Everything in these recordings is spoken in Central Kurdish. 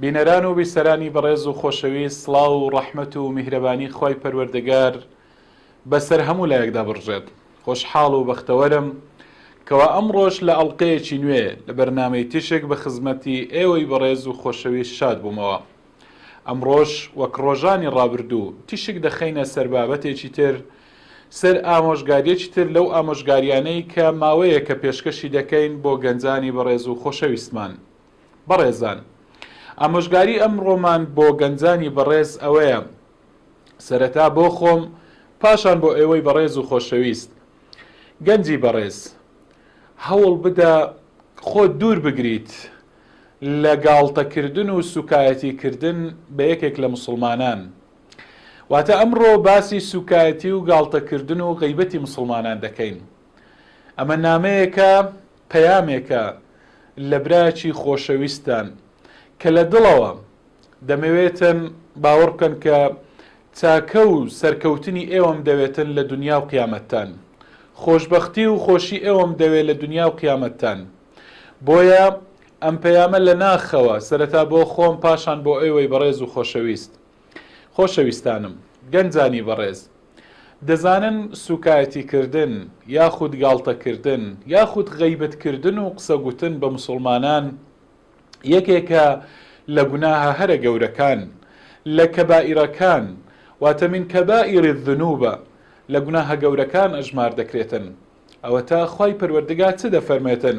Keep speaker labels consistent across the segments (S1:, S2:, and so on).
S1: بینەران و بیسەرانی بەڕێز و خۆشەویست سڵاو و ڕەحمەت و میهرەبانی خوای پەروەردگار بەسەر هەموو لایەکدا بڕژێت خۆشحاڵ و بەختەوەرم کەوا ئەمڕۆش لە ئەڵقەیەکی نوێ لە بەرنامەی تیشک بە خزمەتی ئێوەی بەڕێز و خۆشەویست شاد بوومەوە ئەمڕۆش وەک ڕۆژانی ڕابردوو تیشک دەخەینە سەر بابەتێکی تر سەر ئامۆژگاریەکی تر لەو ئامۆژگاریانەی کە ماوەیەکە پێشکەشی دەکەین بۆ گەنجانی بەڕێز و خۆشەویستمان بەڕێزان ئامۆژگاری ئەمڕۆمان بۆ گەنجانی بەڕێز ئەوەیە، سەرەتا بۆ خۆم پاشان بۆ ئێوەی بەڕێز و خۆشەویست. گەنجی بەڕێز هەوڵ بدە خۆت دوور بگریت لە گاڵتەکردن و سوکایەتی کردن بە یەکێک لە موسڵمانان. واتە ئەمڕۆ باسی سوکایەتی و گاڵتەکردن و غەیبەتی موسڵمانان دەکەین. ئەمە نامەیەکە پەیامێکە لە برایەکی خۆشەویستتان کە لە دڵەوە دەمەوێتن، باوەڕ بکەن کە چاکە و سەرکەوتنی ئێوەم دەوێتن لە دونیا و قیامەتتان. خۆشبەختی و خۆشی ئێوەم دەوێ لە دونیا و قیامەتتان. بۆیە ئەم پەیامە لە ناخەوە، سەرەتا بۆ خۆم پاشان بۆ ئێوەی بەڕێز و خۆشەویست. خۆشەویستانم گەنجانی بەڕێز، دەزانن سووکایەتیکردن یاخود گاڵتەکردن یاخود غەیبەتکردن و قسەگوتن بە موسڵمانان یەکێکە لە گوناهە هەرە گەورەکان، لە کەبائیرەکان، واتە من کبائر الذنوب، لە گوناهە گەورەکان ئەژمار دەکرێتن، ئەوەتا خوای پەروەردگا چ دەفەرمێتن؟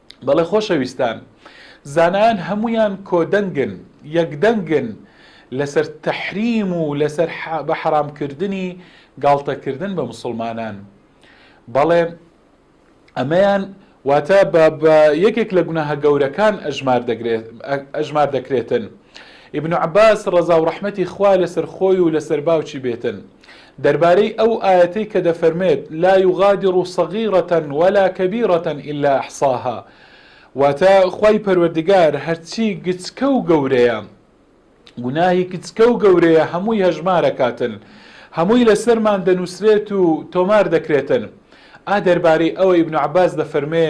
S1: بەڵێ خۆشەویستان، زانایان هەموویان کۆدەنگن، یەکدەنگن لەسەر تەحریم و لەسەر بە حەرامکردنی گاڵتەکردن بە مسلمانان. بەڵێ ئەمەیان واتە بە یەکێک لە گوناهە گەورەکان ئەژمار دەکرێتن. ئیبن عباس ڕەزا و ڕەحمەتی خوا لەسەر خۆی و لەسەر باوکی بێتن. دەربارەی ئەو ئایەتەی کە دەفەرموێت، لا یغادر صغیرە ولا کبیرە الا احصاها، واتە، خوای پەروەردگار هەرچی گچکە و گەورەیە، گوناهی گچکە و گەورەیە هەمووی هەژمارەکاتن، هەمووی لەسەرمان دەنووسرێت و تۆمار دەکرێتن. ئا دەربارەی ئەوە ئیبن عەباس دەفەرموێ،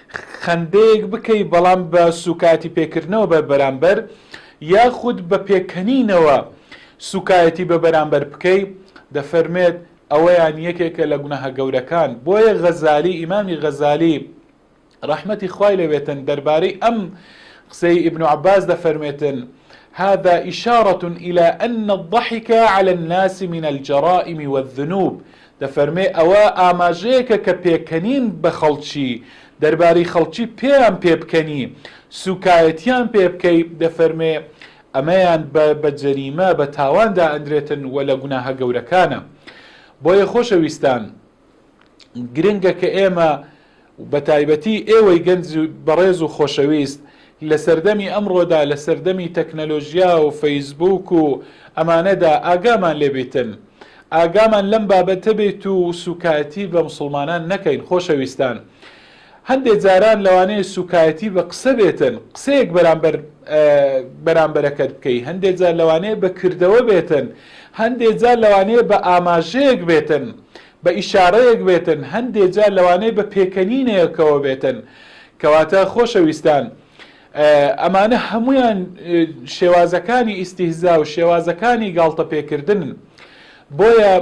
S1: خەندەیەک بکەی بەڵام بە سوکایەتی پێکردنەوە بە بەرامبەر یاخود بە پێکەنینەوە سوکایەتی بە بەرامبەر بکەی دەفەرمێت ئەوەیان یەکێکە لە گوناهە گەورەکان بۆیە غەزالی ئیمامی غەزالی ڕەحمەتی خوای لەوێتن دەربارەی ئەم قسەی ابن عباس دەفەرمێتن هذا إشارة إلى أن الضحك على الناس من الجرائم والذنوب دەفەرمێ ئەوە ئاماژەیەکە کە پێکەنین بە خەڵکی، دەربارەی خەڵکی پێیان پێ بکەنی، سووکایەتییان پێ بکەی، دەفەرمێ ئەمەیان بە بە جەریمە، بە تاوان دائەندرێتن و لە گوناهە گەورەکانە. بۆیە خۆشەویستان، گرنگە کە ئێمە و بەتایبەتی ئێوەی گەنج بەڕێز و خۆشەویست لە سەردەمی ئەمڕۆدا لە سەردەمی تەکنەلۆژیا و فەیسبووک و ئەمانەدا ئاگامان لێ بیتن ئاگامان لەم بابەتە بیت و سوکایەتی بە مسوڵمانان نەکەین خۆشەویستان هەندێ جاران لەوانەیە سوکایەتی بە قسە بێتن قسەیەک بەرامبەر بەرامبەرەکەت بکەی هەندێ جار لەوانەیە بە کردەوە بێتن هەندێ جار لەوانەیە بە ئاماژەیەک بێتن بە ئیشارەیەک بێتن، هەندێ جار لەوانەیە بە پێکەنینێکەوە بێتن، کەواتە خۆشەویستان ئەمانە هەموویان شێوازەکانی ئیستیهزا و شێوازەکانی گاڵتە پێکردنن بۆیە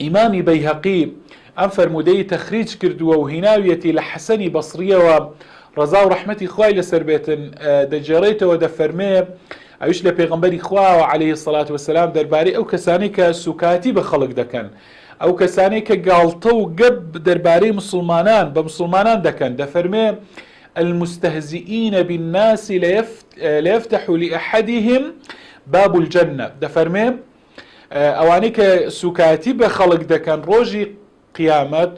S1: ئیمامی بەیهەقی ئەم فەرموودەی تەخریج کردووە و هیناویەتی لە حەسەنی بەسڕیەوە ڕەزا و ڕەحمەتی خوای لەسەر بێتن دەگێڕێتەوە دەفەرمێ ئەویش لە پێغەمبەری خواوە علیە سەلات وسلام دەربارەی ئەو کەسانەی کە سوکایەتی بە خەڵک دەکەن ئەو کەسانەی کە گاڵتە و گەب دەربارەی مسلمانان بە مسلمانان دەکەن دەفەرمێ المستهزئین بالناس ليفتح لأحدهم باب الجنة دەفەرمێ ئەوانەی کە سوکایەتی بە خەڵک دەکەن ڕۆژی قیامەت،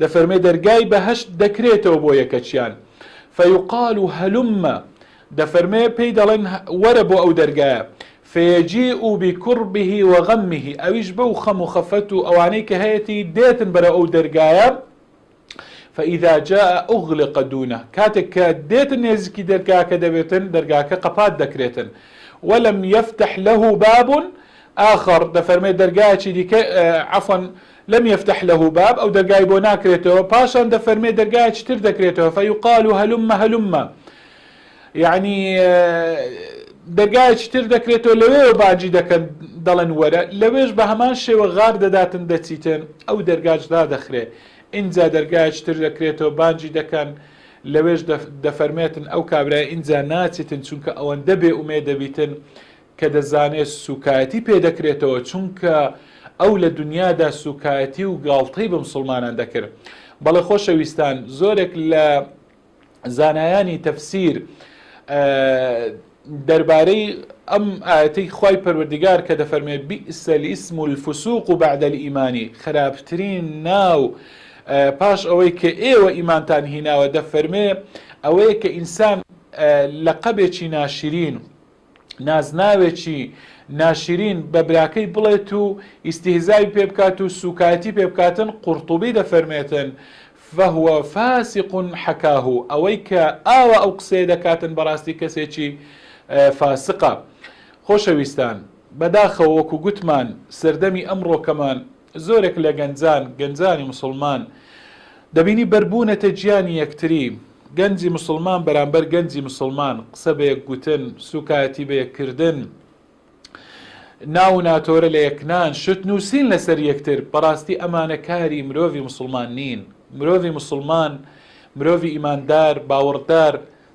S1: دەفەرمێ دەرگای بەهەشت دەکرێتەوە بۆ یەکەکیان، فیقال هلم، دەفەرمێ پێی دەڵێن وەرە بۆ ئەو دەرگایە، فیجیء بکربه وغمه، ئەویش بەو خەم و خەفەت و ئەوانەی کە هەیەتی دێتن بەرەو ئەو دەرگایە، فاذا جاء اغلق دونه، کاتێک کە دێتن نێزیکی دەرگاکە دەبێتن دەرگاکە قەپات دەکرێتن، ولم یفتح له باب آخر، دەفەرمێ دەرگایەکی دیکە، عفوا، لم یفتح له باب ئەو دەرگای بۆ ناکرێتەوە پاشان دەفەرمێ دەرگایەکی تر دەکرێتەوە فیقال هلم هلم یەعنی دەرگایەکی تر دەکرێتەوە لەوێوە باجی دەکەن دەڵێن وەرە لەوێش بە هەمان شێوە غار دەداتن دەچیتن ئەو دەرگاش دادەخرێ ئینجا دەرگایەکی تر دەکرێتەوە بانجی دەکەن لەوێش دەفەرمێتن ئەو کابرای ئینجا ناچیتن چونکە ئەوەندە بێ ئومێ دەبیتن کە دەزانێت سوکایەتی پێ دەکرێتەوە چونکە ئەو لە دنیادا سوکایەتی و گاڵتەی بە مسوڵمانان دەکرد بەڵێ خۆشەویستان زۆرێک لە زانایانی تەفسیر دەربارەی ئەم ئاەتی خی پەروەردگار کە دەفەرمێ بیسەلی ئیسم و الفسوق و بەعدەلی ئیمانی خراپترین ناو پاش ئەوەی کە ئێوە ئیمانتان هیناوە دەفەرمێ ئەوەیە کە ئینسان لە قەبێکی ناشرین نازناوێکی ناشرین بە براکەی بڵێت و ئیستیهزای پێ بکات و سووکایەتی پێ بکاتن قورتوبی دەفەرمێتن فهو فاسق حکاه ئەوەی کە ئاوا ئەو قسەیە دەکاتن بەڕاستی کەسێکی فاسقە خۆشەویستان بەداخەوە وەکو گوتمان سەردەمی ئەمڕۆکەمان زۆرێک لە گەنجان، گەنجانی موسڵمان، دەبینی بەربوونەتە گیانی یەکتری، گەنجی موسڵمان بەرامبەر گەنجی موسڵمان، قسە بە یەک گوتن، سووکایەتی بە یەک کردن، ناو و ناتۆرە لە یەک نان، شت نووسین لەسەر یەکتر، بەڕاستی ئەمانە کاری مرۆڤی موسڵمان نین، مرۆڤی موسڵمان، مرۆڤی ئیماندار، باوەڕدار،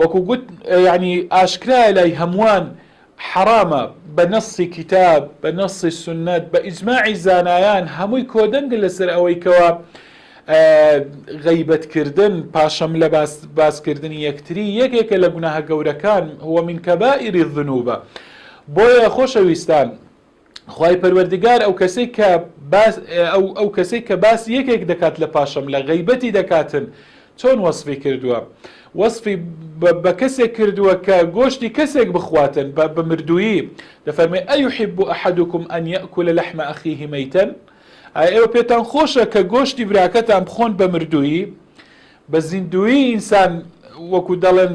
S1: وەکو گوت یەعنی ئاشکرایە لای هەمووان حەڕامە بە نەصی کیتاب بە نەصی سوننەت بە ئیجماعی زانایان هەمووی کۆدەنگە لەسەر ئەوەی کەوا غەیبەت کردن پاشەم لە باس باسکردنی یەکتری یەکێکە لە گوناهە گەورەکان هو من کەبائری الذنوبە بۆیە خۆشەویستان خوای پەروەردگار ئەو کەسەی کە باس ئەو ئەو کەسەی کە باس یەکێک دەکات لە پاشەم لە غیبەتی دەکاتن چۆن وەصفی کردووە وەصفی بە کەسێک کردووە کە گۆشتی کەسێک بخواتن بە بمردوویی دەفەرمێ ئەیحب و ئەحدکم ئەن یەکل لەحمە ئەخیه مەیتەن ئێوە پێتان خۆشە کە گۆشتی براکەتان بخۆن بە مردوویی بە زیندویی ئینسان وەکو دەڵێن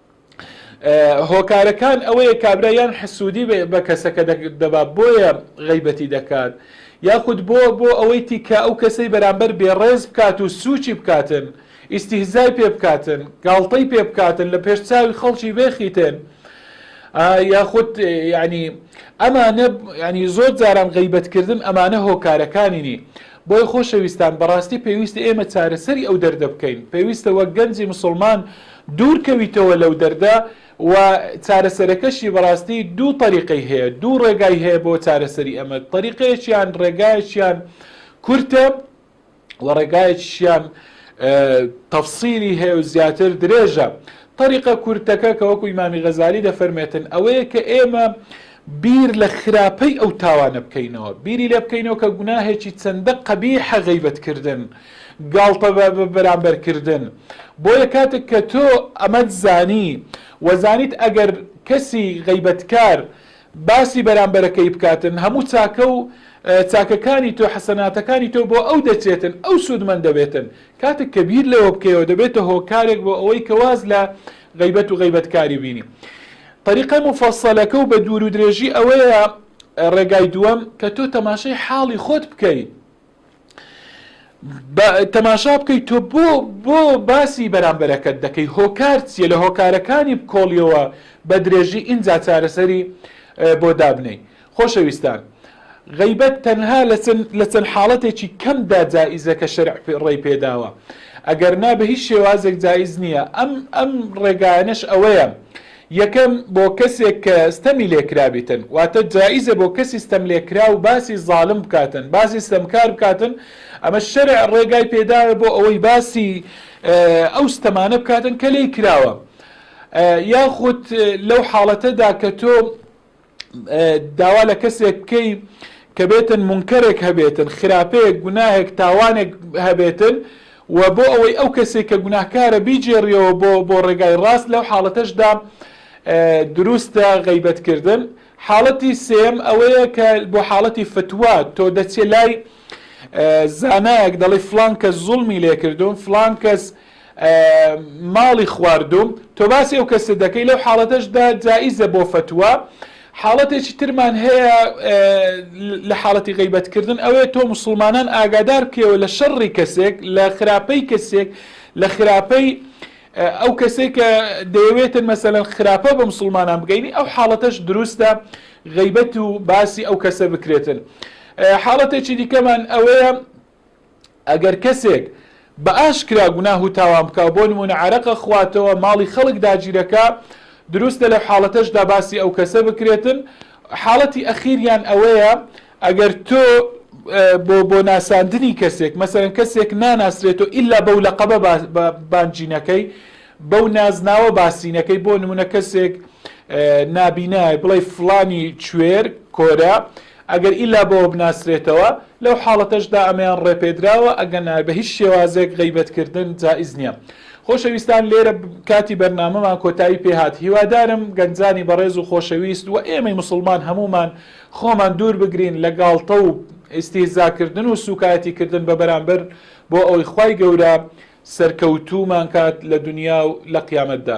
S1: هۆکارەکان ئەوەیە کابرا یان حسوودی بە کەسەکە دەبا بۆیە غیبەتی دەکات یاخود بۆ بۆ ئەوەی تیکە ئەو کەسەی بەرامبەر بێڕێز بکات و سوچی بکاتن ئیسیهزای پێ بکاتن گاڵتەی پێ بکاتن لە پێش چاوی خەڵکی بێخیتن یاخود ینی ئەمانە ینی زۆر جاران غیبەتکردن ئەمانە هۆکارەکانینی بۆی خۆشەویستان بەڕاستی پێویستە ئێمە چارەسەری ئەو دەردە بکەین پێویستە وەک گەنجی مسلمان دوور کەویتەوە لەو دەردە و چارەسەرەکەشی بەڕاستی دوو تەریقەی هەیە دوو ڕێگای هەیە بۆ چارەسەری ئەمە تەریقەیەکیان ڕێگایەکیان کورتە و ڕێگایەکیان تەفسیری هەیە و زیاتر درێژە تەریقە کورتەکە کە وەکو ئیمامی غەزالی دەفەرمێتن ئەوەیە کە ئێمە بیر لە خراپەی ئەو تاوانە بکەینەوە، بیری لێ بکەینەوە کە گوناهێکی چەندە قەبیحە غەیبەت کردن، گاڵتە بەرامبەر کردن، بۆیە کاتێک کە تۆ ئەمەت زانی و زانیت ئەگەر کەسی غەیبەتکار باسی بەرامبەرەکەی بکاتن هەموو چاکە و چاکەکانی تۆ حەسەناتەکانی تۆ بۆ ئەو دەچێتن ئەو سوودمەند دەبێتن، کاتێک کە بیر لەوە بکەیەوە دەبێتە هۆکارێک بۆ ئەوەی کە واز لە غەیبەت و غەیبەتکاری بینی. طریقە موفەسەلەکە و بە دوورو درێژی ئەوەیە ڕێگای دووەم کە تۆ تەماشای حاڵی خۆت بکەیت بە تەماشا بکەیت تۆ بۆ بۆ باسی بەرامبەرەکەت دەکەی هۆکار چییە لە هۆکارەکانی بکۆڵیەوە بە درێژی ئینجا چارەسەری بۆ دابنەی خۆشەویستان، غەیبەت تەنها لە چەند حاڵەتێکی کەمدا جائیزە کە شەرع ڕێی پێداوە، ئەگەرنا بە هیچ شێوازێک جائیز نییە، ئەم ئەم ڕێگایانەش ئەوەیە، یەکەم، بۆ کەسێک کە ستەمی لێکرابیتن، واتە جائیزە بۆ کەسی ستەملێکراو باسی زاڵم بکاتن، باسی ستەمکار بکاتن، ئەمە شەرع ڕێگای پێداوە بۆ ئەوەی باسی ئەو ستەمانە بکاتن کە لێی کراوە، یاخود لەو حاڵەتەدا کە تۆ، داوا لە کەسێک بکەی کە بێتن منکەرێک هەبێتن خراپەیەک گوناهێک تاوانێک هەبێتن و بۆ ئەوەی ئەو کەسێک کە گوناهکارە بیجێڕیەوە بۆ بۆ ڕێگای ڕاست لەو حاڵەتەشدا دروستە غیبەتکردن حاڵەتی سێم ئەوەیە کە بۆ حاڵەتی فتووە تۆ دەچێ لای زانایەک دەڵی فلان کەس زوڵمی لێکردوون فلان کەس ماڵی خواردووم تۆ باسی ئەو کەسە دەکەی لەو حاڵەتەشدا جائیزە بۆ فتووە حاڵەتێکی ترمان هەیە لە حاڵەتی غیبەتکردن ئەوێ تۆ مسلمانان ئاگادار بکەوە لە شەڕی کەسێک لە خراپەی کەسێک لە خراپەی ئەو کەسێک کە دەیەوێتن مەسەەن خراپە بە مسلمانان بگەینی ئەو حاڵەتەش دروستە غیبەت و باسی ئەو کەسە بکرێتن حاڵەتێکی دیکەمان ئەوەیە ئەگەر کەسێک بە ئاشکرا گوناه و تاوان بکا و بۆ نموونە عەرەق ئەخواتەوە، ماڵی خەڵک داگیر ئەکا، دروستە لەو حاڵەتەشدا باسی ئەو کەسە بکرێتن. حاڵەتی ئەخیریان ئەوەیە ئەگەر تۆ بۆ بۆ ناساندنی کەسێک مەسەرەن کەسێک ناناسرێتەوە ئیلا بەو لەقەبە بانگینەکەی بەو نازناوە باسینەکەی بۆ نمونە کەسێک نابینایە بڵێ فلانی کوێر کۆرە ئەگەر ئیلا بەوە بناسرێتەوە، لەو حاڵەتەشدا ئەمەیان ڕێپێدراوە، ئەگەنا بە هیچ شێوازێک غەیبەتکردن جائیز نییە. خۆشەویستان لێرە کاتی بەرنامەمان کۆتایی پێ هات، هیوادارم گەنجانی بەڕێز و خۆشەویست و ئێمەی موسڵمان هەموومان خۆمان دوور بگرین لە گاڵتە و ئیستیهزاکردن و سووکایەتیکردن بە بەرامبەر بۆ ئەوەی خوای گەورە سەرکەوتوومان کات لە دونیا و لە قیامەتدا.